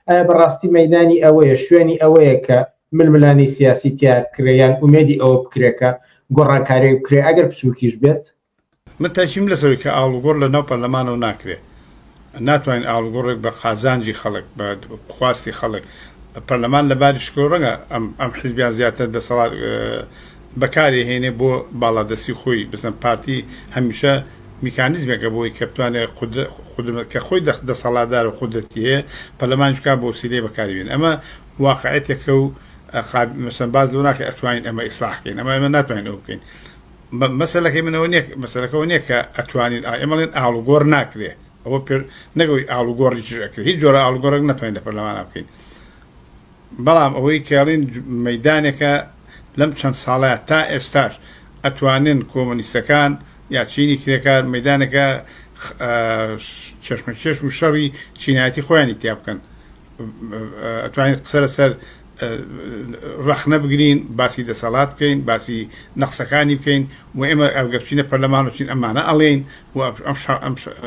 ئایا بەڕاستی مەیدانی ئەوەیە شوێنی ئەوەیە کە ململانی سیاسی تیا بکرێ یان ئومێدی ئەوە بکرێکە گۆڕانکاری بکرێ ئەگەر بچووکیش بێت؟ من تاکیم لەسەوەی کە ئاڵوگۆڕ لە ناو پەرلەمانەوە ناکرێ ناتوانین ئاڵوگۆڕێک بە قازانجی خەڵک بە خواستی خەڵک پەرلەمان لە باری شکۆ ڕەنگە ئەم ئەم حزبیان زیاتر دەسەڵات بەکاری هێنێ بۆ باڵادەسی خۆی بزن پارتی هەمیشە میکانیزمێکە بۆی کە بتوانێت قدرت کە خۆی دەسەڵاتدار و قدرەتی هەیە پەرلەمانیش بکات بۆ وسیلەی بەکاریبێن ئەمە واقعەتێکە و مثلا باز لەو ناکە ئەتوانین ئەمە ئیسلاحکەین ئەمە ئەمە ناتوانین ئەو بکەین مەسلەکەی منەوە نیە مەسلەکەەوە نیە کە ئەتوانین ئەمەڵێن ئاڵوگۆڕ ناکرێ ئەوە پێ نەگەوەی ئاڵوگۆڕی چش ئەکرێت هیچ جۆرە ئاڵوگۆڕێک ناتوانین لە پەرلەمانە بکەین بەڵام ئەوەی کەڵین مەیدانێکە لەم چەند ساڵەیا تا ئێستاش ئەتوانن کۆمۆنیستەکان یا چینی کرێکار مەیدانێکە کێشمەکێش و شەڕی چینایەتی خۆیانی تیا بکەن ئەتوانین قسە لەسەر ڕەخنە بگرین باسی دەسەڵات بکەین باسی نەخسەکانی بکەین و ئێمە ئەگەرچینە پەرلەمان وچین ئەمانە ئەڵێین و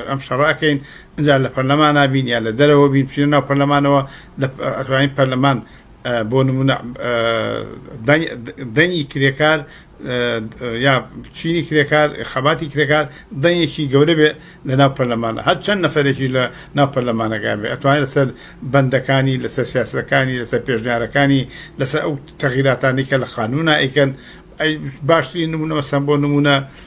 ئەم شەڕە ئەکەین ئەجا لە پەرلەمانا بین یا لە دەرەوە بین بچینە ناو پەرلەمانەوە ئەتوانین پەرلەمان بۆ نمونە دەنگی کرێکار یا چینی کرێکار خەباتی کرێکار دەنگێکی گەورە بێ لە ناو پەرلەمانە هەر چەند نەفرێکی لە ناو پەرلەمانەکان بێ ئەتوانێت لەسەر بەندەکانی لەسەر سیاسەکانی لەسەر پێشنیارەکانی لەسەر ئەو تەغیراتانی کە لە خانوونا ئەیکەن باشترین نمونە مەسەن بۆ نمونە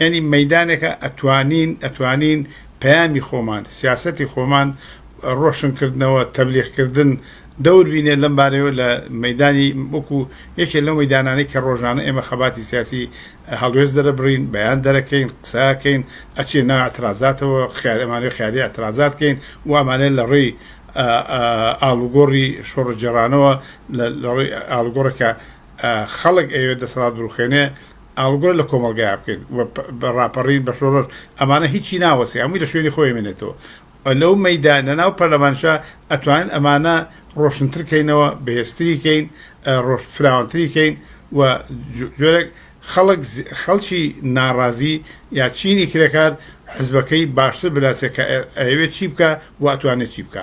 یانی مەیدانێکە ئەتوانین ئەتوانین پەیامی خۆمان سیاسەتی خۆمان ڕۆشن کردنەوە تەبلیغ کردن دەور بینێ لەم بارەیەوە لە مەدانی وەکو یەکێ لەو مەدانانەی کە ڕۆژانە ئێمە خەباتی سیاسی هەڵوێز دەرەبڕین بەیان دەرەکەین قسەکەین ئەچێ نا ئەترازاتەوە خیارەمانەوە خیاری ئەترازاتکەین وامانێت لە ڕێی ئالوگۆڕی شۆڕجێڕانەوە لە ڕێی ئالگۆڕەکە خەڵک ئەوێ دەسەڵات دروخێنێ ئاڵوگۆر لە کۆمەڵگایا بکەین و بە ڕاپەڕین بە شۆڕش ئەمانە هیچی ناوەسێ هەمووی لە شوێنی خۆی مێنێتەوە لەو مەیدا لە ناو پەرلەمانشا ئەتوانین ئەمانە ڕۆشنتر کەینەوە بەهێزتری کەین ڕۆژ فراوانتری کەین و جۆرێک خەڵک خەڵکی ناڕازی یا چینی کرێکار حزبەکەی باشتر بناسێت کە ئەوێت چی بکە و ئەتوانێت چی بکە